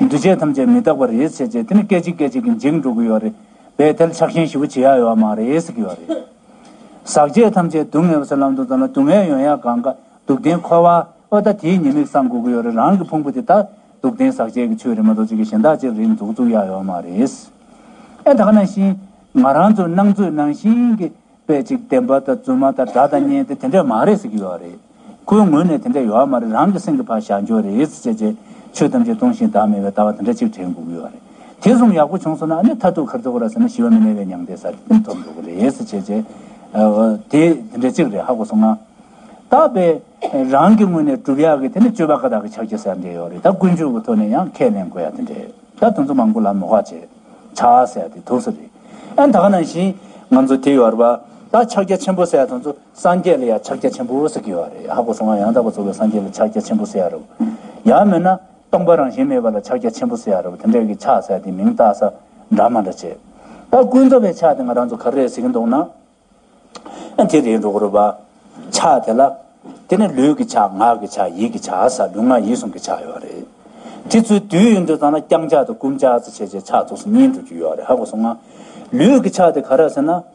འདུས་བྱས་ཐམས་ཅད་མི་རྟག་པར་རེས་བྱས་བྱས་དེ་ནི་སྐད་ཅིག་སྐད་ཅིག་གིས་འཇིག་འགྲོ་གི་ཡོད་རེད་བས་ཐལ་ཆགས་ཤན་ཞི་བོ་བྱེད་ཡག་ཡོད་མ་རེད་གི་ཡོད་རེད། ཟག་བཅས་ཐམས་ཅད་སྡུག་བསྔལ་བ་སོགས་ལམ་དུ་འཛོམས་ལ་སྡུག་བསྔལ་ཡོན་ཡང་གང་དགའ་སྡུག་བདེན་འཁོར་བ་ཨོ་ད་དེའི་ཉེས་དམིགས་བསམ་དགོས་གི་ཡོད་རེད་རང་གི་ཕུང་པོ་དེ་དག་སྡུག་བདེན་ཟག་བཅས་ཀྱི་ཆོས་རེད་མ་གཏོགས་གཅིག་གི་གཞན་དག་ཅིག་རེད་འཛུགས་བཙུགས་ཡག་ཡོད་མ་རེད། ཨེ་ད་ག་ནང་བཞིན་ང་རང་ཚོ་སྣང་ཚོད་ནང་བཞིན་གྱི་དཔེ་ཅིག་བདེན་པ་དང་རྫུན་མ་དང་དགྲ་དང་གཉེན་དེ་དེ་འདྲས་མ་རེད་གི་ཡོད་རེད། ཁོའི་ངོས་ནས་དེ་འདྲ་ཡོད་ཨ་མ་རེད་རང་གི་སེམས་ཀྱི་བར་བཞག་འཇོག་རེད་ཟེར་བྱས་རྗེས་ཆོས་ཐམས་ཅད་སྟོང་ཞིང་བདག་མེད་པའི་ལྟ་བ་དེ་འདྲ་ཅིག་དྲན་འགུག་ཡོད་རེད། དེ་གསུམ་ཡག་པོ་བྱུང་སོང་ན་ཨ་ནི་མཐར་ཐུག་གར་འགྲོ་གི་ར་ཟེར་ན་ཞི་བ་མི་གནས་པའི་མྱང་འདས་ས་རེད་དེ་ཐོབ་འགྲོ་གི་རེད་ཟེར་བྱས་རྗེས་དེ་དེ་འདྲ་ཅིག་རེད་ཧ་གོ་སོང་ང། ད་བས་རང་གི་ངོས་ནས་བསྒྲུབ་ཡག་གི་དེ་ནི་སྤྱོད་པ་ཀ་དག་གི་ཕྱག་རྒྱ་ཟེར་འདྲ་ཡོད་རེད་ད་ཀུན་སྤྱོད་ཀྱི་ཐོག་ནས་ཡང་ཁས་ལེན་དགོས་ཡ་དེ་འདྲ་རེད་ད་དོན་ཚོ་མང་པོ་ལ་མོ་ཁ་བྱས་བྱ་ཟེར་ཡ་དེ་དུག་ས་རེད་ཨ་ད་ག་ནང་བཞིན་ང་ཚོ་དེ་ཡོད་རེད་པ་ད་ཕྱག་རྒྱ་ཆེན་པོ་ཟེར་ཡ་དོན་ཚོ་སངས་རྒྱས་ལ་ཡང་ཕྱག་རྒྱ་ཆེན་པོ་ཟེར་གྱི་ཡོད་རེད་ཧ་གོ་སོང་ང་ཡང་དག་པར་རྫོགས་པའི་སངས་རྒྱས་ལ་ཕྱག་རྒྱ་ཆེན་པོ་ཟེར་ཡ་རེད་བོ། ཡང་མེད་ན་སྟོང་པ་རང་བཞིན་མེད་པ་ལ་ཕྱག་རྒྱ་ཆེན་པོ་ཟེར་ཡ་རེད་བོ་དེ་འདྲ་གི་ཕྱག་ཟེར་དེ་མིང་བཏགས་ས་འདྲ་མ་འདྲ་བྱེད། ད་ཀུན་རྫོབ་པའི་ཕྱག་དེ་ང་རང་ཚོ་ག་རེ་ཟེར་གྱི་འདུག་ན། ཨ་དེ་རེད་འགྲོ་གོ་རེད་བ། ཕྱག་དེ་ལ། དེ་ནི་ལུས་ཀྱི་ཕྱག་ངག་གི་ཕྱག་ཡིད་ཀྱི་ཕྱག་ཨ་ས་ལུས་ངག་ཡིད་གསུམ་གྱི་ཕྱག་ཡོད་རེད། དེ་ཚོའི་བསྡུས་ཡོད་འདོད་ཚང་ལ་བརྐྱང་ཕྱག་དང་བསྐུམ་ཕྱག་ཚུ་བྱས་བྱས་ཕྱག་རྫོགས་སུ་གཉིས་འགྲོ་རྒྱུ་ཡོད་རེད་ཧ་གོ་སོང་ང། ལུས་ཀྱི་ཕྱག་དེ་ག་ར་ཟེར་ན།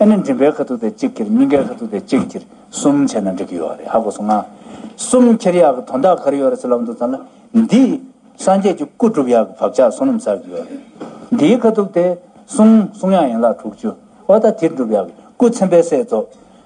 ཨེ་ནི་མགྲིན་པའི་ཁ་ཐུག་དེ་གཅིག་ཁྱེར་སྙིང་གའི་ཁ་ཐུག་དེ་གཅིག་ཁྱེར་གསུམ་བྱས་ན་འགྲིག་གི་ཡོད་རེད་ཧ་གོ་སོང་ང། གསུམ་ཁྱེར་ཡག་གི་དོན་དག་ག་རེ་ཡོད་རེད་ཚུར་ལབ་འདུག་ཙང་ལ་འདི། སངས་རྒྱས་ཀྱི་སྐུ་བསྒྲུབ་ཡག་གི་བབ་ཆགས་སོ་ནམ་ཟག་གི་ཡོད་རེད། འདིའི་ཁ་ཐུག་དེ། གསུམ་གསུང་ཡག་ཡན་ལག་དྲུག་ཅུ། ཨོ་ད་དེ་བསྒྲུབ་ཡག་གི་སྐུ་ཚན་པའི་སྲས་རྫོགས།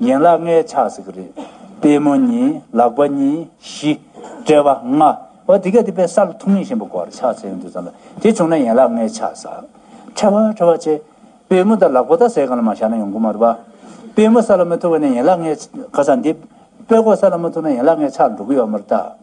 ཡན་ལག་ལྔའི་ཆགས་སྲེད་ཀྱི་རིགས། པད་མོ་གཉིས་ལག་པ་གཉིས་བཞི། དཔྲལ་བ་ལྔ། འོ་དེ་གས་དེ་པའི་ས་ལ་ཐུག་མིང་གཞན་པོ་བསྐོར་བར་ཆགས་སྲེད་ཡོན་ཏུ་བརྩམས་ལ་དེ་བྱུང་ན་ཡན་ལག་ལྔའི་ཆགས་སྲེད། ཕྲལ་བ་ཕྲལ་བ་ཆེ། པད་མོ་དང་ལག་པ་དང་ཟས་གང་ལ་མ་བཞག་ན་ཡོང་སྒོ་མ་རུལ་བ། པད་མོ་ས་ལ་མི་ཐུག་པ་ནས་ཡན་ལག་ལྔའི་ཁ་ཟ་འདེབས། པད་གོག་ས་ལ་མི་ཐུག་ན་ཡན་ལག་ལྔའི་ཆགས་འགྲོ་གི་ཡོད་མ་རུལ་བརྟགས།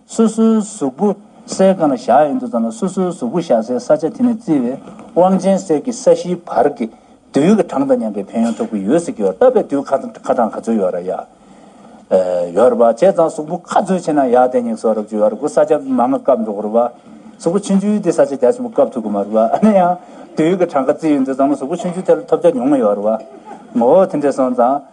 སོ་སོའི་གཟུགས་པོ་སའི་གང་ན་བཞག་ཡོད་འདུག་ཙམ་ལ་སོ་སོའི་གཟུགས་པོ་བཞག་སའི་ས་ཆ་དེ་ནས་བརྩིས་པའི་དབང་ཆེན་གསེར་གྱི་ས་གཞིའི་བར་གྱི་དུས་ཡུན་གྱི་གྲངས་དང་མཉམ་པའི་ཕན་ཡོན་ཐོབ་ཀྱི་ཡོད་ཟེར་གྱི་ཡོད་སྟབས་པའི་དུས་ཁ་གྲངས་ག་ཚོད་ཡོད་ར་ཡག་ཡོད་ར་བ་བྱས་ཙང་གཟུགས་པོ་ཁ་ཚོད་ཆེ་ན་ཡག་དེ་སྙེགས་སོགས་རབ་བྱུང་ཡོད་ར་གོ་ས་ཆ་མ་ང་བཀབ་འགྲོ་གོ་ར་བ་གཟུགས་པོ་ཆུང་ཆུང་དེ་ས་ཆ་རྒྱ་ཆེན་པོ་བཀབ་ཐུབ་གི་མ་ར་བ་ཨ་ནེ་ཡང་དུས་ཡུན་གྱི་གྲངས་ཀ་བརྩིས་ཡོད་འདུག་ཙམ་ལ་གཟུགས་པོ་ཆུང་ཆུང་དེ་ལ་ཐོབ་ཆ་ཉུང་ངུ་ཡོད་ར་བ་ངོ་བོ་དེ་འདྲས་སོང་ཙང།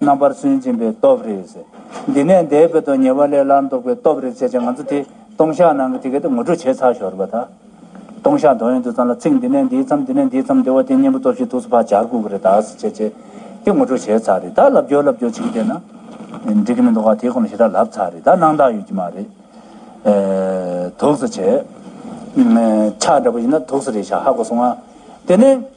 རྣམ་པར་སུན་འབྱིན་པའི་སྟོབས་རེད་ཟེར། འདི་ནས་འདས་པའི་དོན་ཉེ་བ་ལས་སླར་འདོགས་པའི་སྟོབས་རེད་ཟེར་བྱས་ང་ཚོ་དེ་སྟོང་ཤག་ནང་གི་དེ་ག་དེ་ངོ་སྤྲོད་བྱས་ཚར་ཞོར་བ་དང། སྟོང་ཤག་འདོགས་ཡོང་དུས་ཙམ་ལ་ཚིག་འདི་ནས་འདིའི་མཚམས་འདི་ནས་འདིའི་མཚམས་འདི་བ་དེ་སྙན་པོ་སྟོབས་ཤིག་ཐུགས་སུ་ཕར་འབྱར་ཁུག་གི་རེད་ད་ཟེར་བྱས་བྱས་དེ་ངོ་སྤྲོད་བྱས་ཚར་རེད་ད་ལབ་རྒྱོ་ལབ་རྒྱོ་བྱེད་ཀྱི་བསྡད་ན། འགྲིག་གི་མི་འདུག་ག་དེ་ཁོ་ན་ཞེ་དྲག་ལབ་ཚར་རེད་ད་སྣང་དག་ཡོད་ཀྱི་མ་རེད། དུགས་སུ་བྱས། ཆགས་འདྲ་པོ་ཡིན་ན་དུགས་སུ་རེད་ཤག་ཧ་གོ་སོང་ང། དེ་ནས།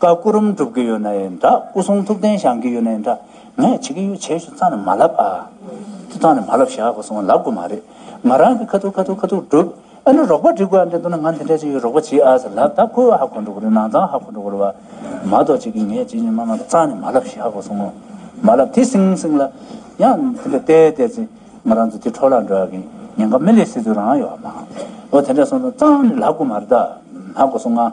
བཀའ་སྐུ་རུམ་སྒྲུབ་གི་ཡོད་ན་ཡི་འདྲ་སྐུ་གསུང་ཐུགས་རྟེན་བཞེངས་གི་ཡོད་ན་ཡི་འདྲ་ངས་བྱེད་ཀྱི་ཡོད་བྱས་ཞུ་ཙང་ནས་མ་ལབ་ཨ། ཅི་ཙང་ནས་མ་ལབ་ཞག་གི་སོང་ལབ་དགོས་མ་རེད་ང་རང་གི་ཁ་ཐུག་ཁ་ཐུག་ཁ་ཐུག་སྒྲུབ་ཨ་ནི་རོགས་པ་འབྲི་དགོས་ཨ་འདྲེ་འདུག་ན་ང་འདི་འདྲ་ཅིག་ཡོད་རོགས་པ་བྱེད་ཨ་ཟེར་ལབ་ད་ཁོ་ཧ་གོ་འགྲོ་གི་རེད་ནང་ཙང་ཧ་གོ་འགྲོ་གི་རེད་བ། མ་གཏོགས་བྱེད་ཀྱི་ངས་བྱེད་ཀྱི་མ་མ་ཙང་ནས་མ་ལབ་ཞག་གི་སོང་ངོ། མ་ལབ་དེ་བསྲིངས་བསྲིངས་ལ། ཡང་དེ་འདྲ་བལྟས་བལྟས་ཚེ་ང་རང་ཚོ་དེ་འཕྲོ་བརླག་འགྲོ་ཡག་གི་ཉེན་ཁ་མི་ལས་སྲིད་ཚོད་རང་ཡོད་བ་མ། འོ་དེ་འདྲ་སོང་ཙང་ཙང་ནས་ལབ་དགོས་མ་རེད་ད། ཧ་གོ་སོང་ཨ།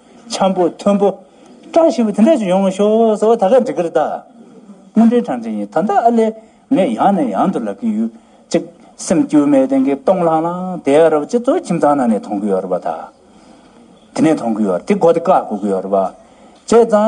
འཁྱམས་པོ་མཐོན་པོ། སྐྲ་ཞིམ་པོ་དེ་འདྲ་ཞིག་ཡོང་ཤོག་ཟེར་བ་ད་ག་འགྲིག་གི་རེད་ད། དངོས་འབྲེལ་གྲངས་ཅན་ཡིན་ད་ལྟ་ཨ་ལས་ངས་ཡང་ནས་ཡང་དུ་ལབ་ཀྱི་ཡོད། གཅིག། སེམས་སྐྱོ་མའི་སྟེང་གི་སྟོང་ལྷང་ལྷང་དེ་ཨ་རབ་སྤྱི་ཚོགས་ཁྱིམ་ཚང་ནང་ནས་མཐོང་གི་ཡོད་རེད་པ་ད། དེ་ནས་མཐོང་གི་ཡོད་རེད་དེ་གོ་དེ་ཀ་གོ་གི་ཡོད་རེད་པ། བྱས་ཙང།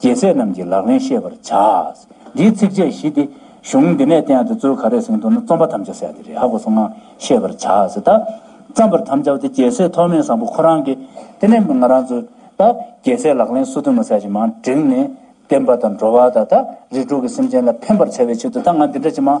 རྒྱལ་སྲས་རྣམས་ཀྱི་ལག་ལེན་ཤེས་པར་བྱ། འདིའི་ཚིགས་བཅད་བཞི་སྟེ། གཞུང་འདི་ནས་བསྟན་ཡང་དེ་གཙོའི་ཁ་རས་ཟིན་དུ་ན་རྩོམ་པ་དམ་བཅའ་གསལ་འདི་རེད་ཧ་གོ་སོང་ངམ་ཤེས་པར་བྱ། བརྩམས་པར་དམ་བཅའ་བ་དེ་རྒྱལ་སྲས་ཐོགས་མེད་བཟང་པོ་ཁོ་རང་གིས། དེ་ནས་ང་རང་ཚོས། རྒྱལ་སྲས་ལག་ལེན་གསོ་ཐུབ་མ་བསལ་ཅི་མང་བསྒྲིགས་ནས། བསྟན་པ་དང་འགྲོ་བ་དང། རིགས་དྲུག་གི་སེམས་ཅན་ལ་ཕན་པར་བྱ་བའི་ཆེད་དུ་ད་ང་འདི་འདྲ་ཅི་མང།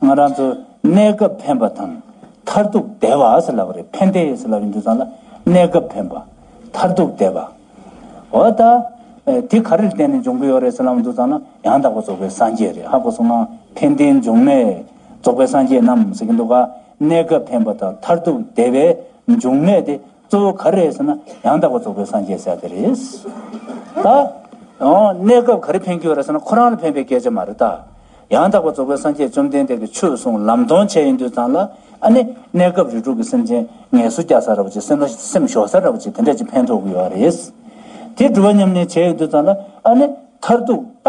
ང་རང་ཚོ་གནས་སྐབས་ཕན་པ་དང་མཐར་ཐུག་བདེ་བ་ཨ་ས་ལ་བ་རེད་ཕན་བདེ་ཨེ་ས་ལ་བའི་འདུ་ཚང་ལ་གནས་སྐབས་ཕན་པ་མཐར་ཐུག་བདེ་བ་འོ་ད་དེ་ག་རེར་བརྟེན་ནས་འབྱུང་གི་ཡོད་རེད་ས་ལ་བའི་འདུ་ཚང་ལ་ཡང་དག་པ་རྫོགས་པའི་སངས་རྒྱས་རེད་ཧ་གོ་སོང་ང་ཕན་བདེ་འབྱུང་གནས་རྫོགས་པའི་སངས་རྒྱས་རྣམས་ཟེར་གྱི་འདུག་ག་གནས་སྐབས་ཕན་པ་དང་མཐར་ཐུག་བདེ་བའི་འབྱུང་གནས་དེ་གཙོ་བོ་ག་རེ་རེད་ཟེར་ན་ཡང་དག་པར་རྫོགས་པའི་སངས་རྒྱས་ས་ཡ་དེ་རེད། ད་གནས་སྐབས་ག་རེ་ཕན་རྒྱུ་རེད་ཟེར་ན་ཁོ་རང་ལ་ཕན་པའི་སྐད་ཆ་མ་རེད་དཱ། ཡང་དག་པར་རྫོགས་པའི་སངས་རྒྱས་བཅོམ་ལྡན་འདས་ཀྱི་ཆོས་གསུང་ལམ་སྟོང་ཆེན་ཡིན་དུས་ཙམ་ལ་ཨ་ནི་གནས་སྐབས་རིགས་དྲུག་གི་སེམས་ཅན་ངལ་གསོ་རྒྱག་ས་ར་བ་ཅིག་སེམས་ལ་སེམས་ཞོག་ས་ར་བ་ཅིག་དེ་འདྲ་ཅིག་ཕན་ཐོགས་ཀྱི་ཡོད་རེད། དེ་འགྲུབ་བ་སྙམ་ནས་བྱས་ཡོད་དུས་ཙམ་ལ་ཨ་ནི་མཐར་ཐུག་ད་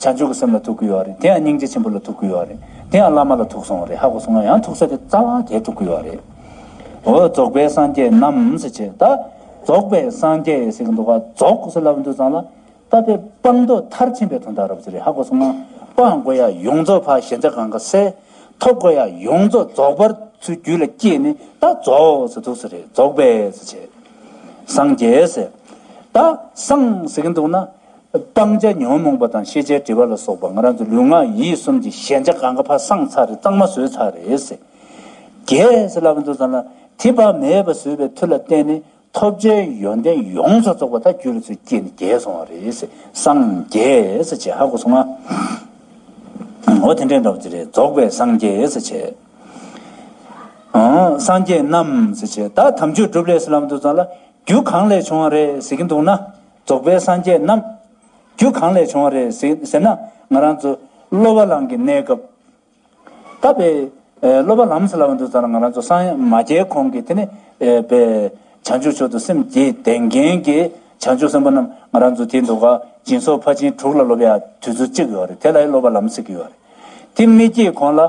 བྱང་ཆུབ་ཀྱི་སེམས་ལ་ཐུག་གི་ཡོད་རེད་དེ་ཡང་སྙིང་རྗེ་ཆེན་པོ་ལ་ཐུག་གི་ཡོད་རེད་དེ་ཡང་བླ་མ་ལ་ཐུག་སོང་རེད་ཧ་གོ་སོང་ང་ཡང་ཐུག་ས་དེ་རྩ་བ་དེ་ཐུག་གི་ཡོད་རེད། འོ་རྫོགས་པའི་སངས་རྒྱས་རྣམས་ཟེར་བྱས་ད་རྫོགས་པའི་སངས་རྒྱས་ཟེར་གྱི་འདུག་ག་རྫོགས་ཟེར་ལབ་ཀྱི་འདུག་ཙང་ལ་ད་པེ་སྤང་རྡོ་མཐར་ཕྱིན་པའི་དོན་དག་རབ་ཟེར་རེད་ཧ་གོ་སོང་ང་སྤང་དགོས་ཡ་ཡོངས་རྫོགས་ཕ་ཞལ་མཇལ་གང་ག་སེ་ཐོབ་དགོས་ཡ་ཡོངས་རྫོགས་རྫོགས་པར་ཚུལ་རྒྱུད་ལ་སྐྱེས་ནས་ད་རྫོགས་ཟེར་འདུག་ཟེར་རེད་རྫོགས་པའི་ཟེར་བྱས། སངས་རྒྱས་ཟེར་ད་སངས་ཟེར་གྱི་འདུག་ན། སྤང་བྱ་ཉོན་མོངས་པ་དང་ཤེས་བྱའི་དྲི་བ་ལ་སོགས་པ་ང་རང་ཚོ་ལུས་ངག་ཡིད་གསུམ་གྱི་ཞན་ཆ་གང་ག་ཕ་སངས་ཚར་རེ་གཙང་མ་བཟོས་ཚར་རེད། རྒྱས་བླ་མཚོ་ཚང་ལ་དེ་བག་མེད་པ་བཟོས་པའི་མཐུ་ལ་བརྟེན་ནས་ཐོབ་བྱའི་ཡོན་ཏན་ཡོངས་སུ་རྫོགས་པ་དག་རྒྱུད་ལ་ཚུར་སྐྱེས་ནས་རྒྱས་སོང་བ་རེད། སངས་རྒྱས་བྱེད་ཧ་གོ་སོང་ང། འོ་དེ་འདྲའི་འདྲ་བ་ཅི་རེད་རྫོགས་པའི་སངས་རྒྱས་བྱེད། སངས་རྒྱས་རྣམས་བྱེད་ད་དམ་ཆོས་སྒྲུབ་ལས་བླ་མཚོ་ཚང་ལ་རྒྱུ་གང་ལས་བྱུང་བ་རེད་ཟེར་གྱི་འདུག་ན། རྫོགས་པའི་སངས་རྒྱས་རྣམས། རྒྱུ་གང་ལས་བྱུང་བ་རེད་ཟེར་ན། ང་རང་ཚོ་སློབ་བ་ལང་གི་གནས་སྐབས། ད་བས་སློབ་བ་ལམ་སླ་བ་འདུག་ཟེར་ན་ང་རང་ཚོ་སངས་མ་རྒྱས་གོང་གི་དེ་ནས་བས། བྱང་ཆུབ་མཆོག་ཏུ་སེམས་བསྐྱེད་ལྡན་མཁན་གྱི་བྱང་ཆུབ་སེམས་དཔའ་རྣམས་ང་རང་ཚོ་དེ་འདུག་ག་སྦྱིན་སོགས་ཕར་ཕྱིན་དྲུག་ལ་སློབ་ཡ་དུས་ཚོད་གཅིག་ཡོད་རེད་དེ་ལ་ཡི་སློབ་བ་ལམ་ཟེར་གྱི་ཡོད་རེད། དེ་མི་སྐྱེས་གོང་ལ་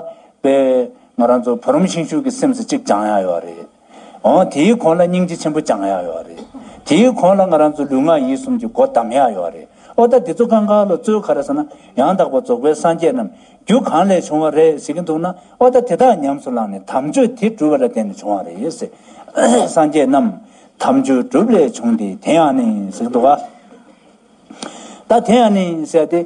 བས། ང་རང་ཚོ་བུ་རམ་ཤིང་ཤུག་གི་སེམས་སུ་གཅིག་སྦྱང་ཡ་ཡོད་རེད། འོང། དེའི་གོང་ལ་སྙིང་རྗེ་ཆེན་པོ་བཅང་ཡག་ཡོད་རེད། དེའི་གོང་ལ་ང་རང་ཚོ་ལུས་ངག་ཡིད་གསུམ་གྱི་སྒོ་བསྡམས་ཡག་ཡོད་རེད། ཨོ་ད་འདི་ཚོ་ཀང་ཀང་ལོ་གཙོའི་ཁ་རེད་ཟེར་ན་ཡང་དག་པ་རྫོགས་པའི་སངས་རྒྱས་རྣམས་རྒྱུ་གང་ལས་བྱུང་བ་རེད་ཟེར་གྱི་འདུག་ན་ཨོ་ད་དེ་དག་ཉམས་སུ་བླངས་ནས་དམ་ཆོས་དེ་སྒྲུབ་པ་ལ་བརྟེན་ནས་བྱུང་བ་རེད། སངས་རྒྱས་རྣམས་དམ་ཆོས་སྒྲུབ་ལས་བྱུང་སྟེ་དེ་ཡང་ནི་ཟེར་གྱི་འདུག་ག། ད་དེ་ཡང་ནི་ཟེར་ཏེ།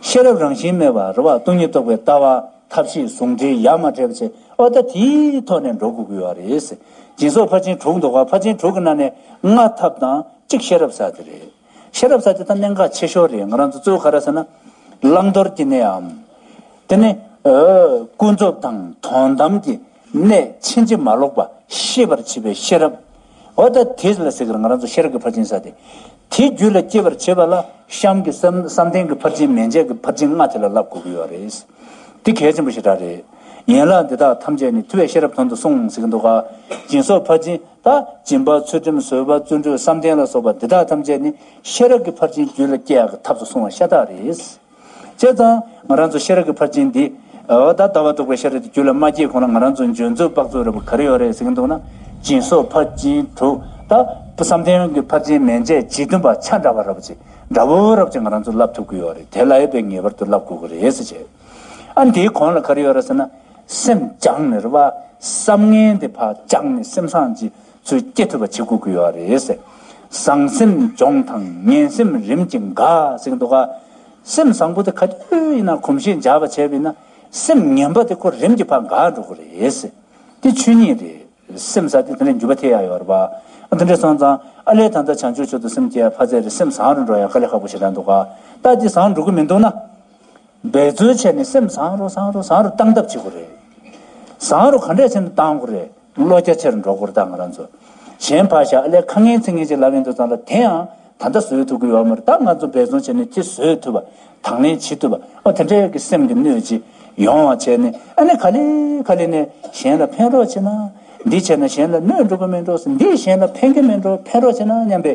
ཤེས་རབ་རང་བཞིན་མེད་པར་བ་སྟོང་ཉིད་རྟོགས་པའི་ལྟ་བ་ཐབས་ཤེས་ཟུང་འབྲེལ་ཡ་མ་བྲལ་བ་བྱས་ཨོ་ད་དེའི་ཐོག་ནས་འགྲོ་དགོས་དགོས་བ་རེད། སྦྱིན་སོགས་ཕར་ཕྱིན་དྲུག་འདུག་ཨ་ཕར་ཕྱིན་དྲུག་གི་ནང་ནས་ལྔ་ཐབས་དང་གཅིག་ཤེས་རབ་ས་དེ་རེད། ཤེས་རབ་ས་དེ་ད་གནད་འགག་ཆེ་ཤོས་རེད་ང་རང་ཚོ་གཙོ་བོ་ག་རེ་ཟེར་ན། བླང་དོར་གྱི་གནད་འམ། དེ་ནི། ཀུན་རྫོབ་དང་དོན་དམ་གྱི་ནས་ཕྱིན་ཅི་མ་ལོག་པ་ཤེས་པར་བྱེད་པའི་ཤེས་རབ། འོ་ད་དེ་ལ་ཟེར་གྱི་ང་རང་ཚོ་ཤེས་རབ་ཀྱི་ཕར་ཕྱིན་ས་སྟེ། དེའི་རྒྱུད་ལ་སྐྱེད་པར་བྱེད་པ་ལ་གཤམ་གྱི་བསམ་གཏན་གྱི་ཕར་ཕྱིན་མན་ཆད་ཀྱི་ཕར་ཕྱིན་ལྔ་དེ་ལ་བསླབ་དགོས་ཀྱི་ཡོད་རེད། འདི་གལ་ཆེན་པོ་ཞེ་དྲག་རེད། ཡན་ལག་འདི་དག་ཐམས་ཅད་ནི་ཐུ་བའི་ཤེས་རབ་དོན་དུ་གསུངས་ཟེར་གྱི་འདུག་ག། སྦྱིན་སོགས་ཕར་ཕྱིན་དང་སྦྱིན་པ་ཚུལ་ཁྲིམས་བཟོད་པ་བརྩོན་འགྲུས་བསམ་གཏན་ལ་སོགས་པ་འདི་དག་ཐམས་ཅད་ནི་ཤེས་རབ་ཀྱི་ཕར་ཕྱིན་རྒྱུད་ལ་སྐྱེད་ཡག་གི་ཐབས་སུ་གསུངས་བ་ཤ་སྟག་རེད། བྱས་ཙང། ང་རང་ཚོ་ཤེས་རབ་ཀྱི་ཕར་ཕྱིན་འདི། འོ་ད་ལྟ་བ་འདུག་པའི་ཤེས་རབ་དེ་རྒྱུད་ལ་མ་སྐྱེས་གོང་ལ་ང་རང་ཚོ་འཇོན་ཚོད་དཔག་ཚོད་རེད་པོ་ག་རེ་ཡོད་རེད་ཟེར་གྱིན་འདུག་ན། སྦྱིན་སོགས་ཕར་ཕྱིན་དྲུག་ད། བསམ་གཏན་གྱི་ཕར་ཕྱིན་མན་ཆད་ཇི་བདུན་པ་ཆ་འདྲ་བ་རབ་བྱེད་འདྲ་བོ་རབ་བྱེད་ང་རང་ཚོ་བསླབ་ཐུབ་ཀྱི་ཡོད་རེད་དེ་ལ་ཡོད་པའི་ངེས་པར་དུ་བསླབ་དགོས་ཀྱི་རེད་ཟེར་བྱས། ཨ་འདིའི་གོང་ལ་ག་རེ་ཡོད་རེད་ཟེར་ན། སེམས་སྦྱངས་ནས་རེད་བ། བསམ་ངན་དེ་ཕར་སྦྱངས་ནས་སེམས་སངས་རྒྱས། ཚོས་སྐྱེ་ཐུབ་པ་བྱེད་དགོས་ཀྱི་ཡོད་རེད། བཟང་སེམས་འབྱོངས་དང་ངན་སེམས་རིམ་གྱིས་འགག་ཟེར་འདུག་ག། སེམས་བཟང་པོ་དེ་ག་དུས་ཡིན་ན་གོམས་གཤིས་འཇགས་པ་བྱས་པས་ན། སེམས་ངན་པ་དེ་ཁོ་རིམ་གྱིས་ཕར་འགག་འགྲོ་གི་རེད། དེ་ཆོས་ཉིད་རེད། སེམས་བཟང་དེ་དེ་འདྲའི་འགྱུར་བ་ཐེབས་ཡག་ཡོད་རེད། དེ་འདྲ་སོང་ཙང་ཨ་ལས་ད་ལྟ་བྱང་ཆུབ་ཆོས་དང་སེམས་བསྐྱེད་ཡར་ཕར་ཚད་རེད་སེམས་བཟང་རུ་འགྲོ་ཡག་ག་ལས་ཁག་པོ་ཞིག་རག་འདུག་ག། ད་དེ་བཟང་འགྲོ་གི་མི་འདུག་ན། འབད་བརྩོན་བྱས་ནས་སེམས་བཟང་རུ་བཟང་རུ་བཟང་རུ་གཏང་ཐབས་བྱེད་དགོས་རེད། བཟང་རུ་ག་འདྲས་ཆེ་ན་གཏང་དགོས་རེད་བློ་རྒྱ་ཆེར་འགྲོ་དགོས་རེད་ད་ང་རང་ཚོ་གཞན་ཕ་ཞག་ཨ་ལས་ཁ་ངན་ཚིག་ངན་ཅིག་ལབ་ཡོང་འདུག་ཙང་ལ་དེ་ཡང་ད་ལྟ་བཟོད་ཐུབ་ཀྱི་ཡོད་མ་རེད་ད་ང་ཚོ་འབད་བརྩོན་བྱས་ནས་དེ་བཟོད་ཐུབ་པ་དང་ལེན་བྱེད་ཐུབ་པ་དེ་འདྲའི་གི་སེམས་ཀྱི་གནོད་ཅིག་ཡོང་བ་བྱས་ནས་ཨ་ནི་ག་ལེ་ག་ལེ་ནས་གཞན་ལ་ཕན་རོགས་བྱེད་ན་འདི་བྱས་ན་གཞན་ལ་གནོད་འགྲོ་གི་མེད་འགྲོ་སེ་འདི་གཞན་ལ་ཕན་གི་མེད་འགྲོ་ཕན་རོགས་བྱེད་ན་སྙམ་པའི།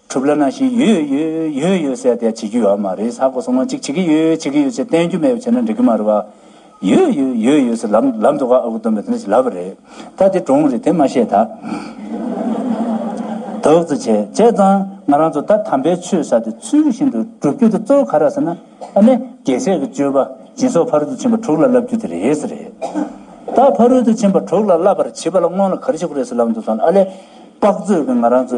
གྲུབ་ལ་ན་ཞིག་ཡོད་ཡོད་ཡོད་ཡོད་ཟེར་ཏེ་བྱེད་རྒྱུ་ཡོད་མ་རེད་ཟ་གོ་སོང་ང་གཅིག་བྱེད་ཀྱི་ཡོད་བྱེད་ཀྱི་ཡོད་ཅེས་བསྟན་རྒྱུ་མེད་པ་བྱས་ན་འགྲིག་གི་མ་རེད་བ། ཡོད་ཡོད་ཡོད་ཡོད་ཟེར་ལབ་ལབ་འདུག་ག་ཨ་ཁུ་སྟོན་པས་དེ་འདྲ་ཞིག་ལབ་པ་རེད་ད་དེ་གྲོངས་རེད་དེ་མ་བཤད་ད། དོགས་ཚོད་བྱས་བྱས་ཙང་ང་རང་ཚོ་ད་དམ་པའི་ཆོས་ཟ་དེ་ཚུལ་བཞིན་དུ་སྒྲུབ་རྒྱུ་དེ་གཙོ་བོ་ག་ར་ཟེར་ན་ཨ་ནི་རྒྱལ་སྲས་ཀྱི་སྤྱོད་པ་སྦྱིན་སོགས་ཕ་རོལ་ཏུ་ཕྱིན་པ་དྲུག་ལ་བསླབ་རྒྱུ་དེ་རེད་ཟེར་རེད་ད་ཕ་རོལ་ཏུ་ཕྱིན་པ་དྲུག་ལ་བསླབ་པར་བྱིས་པ་ལ་སྔོན་ལ་ག་རེ་བྱེད་དགོས་རེད་ཟེར་ལབ་འདུག་སོང་ཨ་ལས་དཔག་ཚོད་ཀྱི་ང་རང་ཚོ་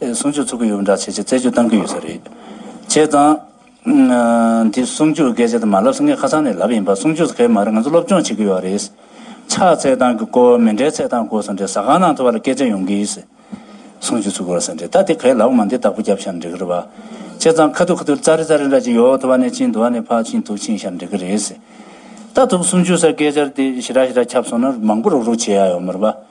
གསུང་ཆོས་ཚུགས་ཀྱི་ཡོད་འདྲ་བྱས་རྗེས་རྩད་གཅོད་གཏང་གི་ཡོད་ས་རེད། བྱས་ཙང། འདི་གསུང་ཆོས་སྐད་ཆ་དེ་མ་ལབ་ས་ངས་ཁ་སང་ནས་ལབ་ཡིན་པ་གསུང་ཆོས་སྐད་མ་རེད་ང་ཚོ་སློབ་སྦྱོང་བྱེད་ཀྱི་ཡོད་རེད། ཕྱག་འཚལ་སྟངས་ཀྱི་སྐོར་མི་འདྲའི་འཚལ་སྟངས་སྐོར་ས་འདྲའི་ཟ་ཁང་ནང་དུ་བ་ལ་སྐད་ཆ་ཡོང་གི་ཡིན། གསུང་ཆོས་ཚུགས་དགོས་ས་འདྲའི་ད་དེ་གས་ལབ་མ་འདི་བདག་པོ་རྒྱབ་ཤར་འགྲིག་གི་རེད་བ། བྱས་ཙང་ཁ་ཐུར་ཁ་ཐུར་རྩ་རི་རྩ་རི་འདྲ་ཅིག་ཡོད་དུ་བ་ནས་ཕྱིན་དུ་བ་ནས་ཕག་ཕྱིན་དུག་ཕྱིན་ཤར་འགྲིག་གི་རེད། ད་དུག་གསུང་ཆོས་སར་སྐད་ཆར་དེ་ཞི་ར་ཞི་ར་ཁྱབ་སོང་ན་མང་པོ་རུག་རུག་བྱེད་ཡག་ཡོད་མོད་བ།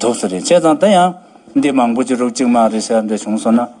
ཐུབ་ས་རེད་བྱས་ཙང་ད་ཡང་འདི་མང་པོ་ཅི་རུག་ཅིག་མ་རེད་ཟེར་བ་འདྲ་བྱུང་སོང་ན།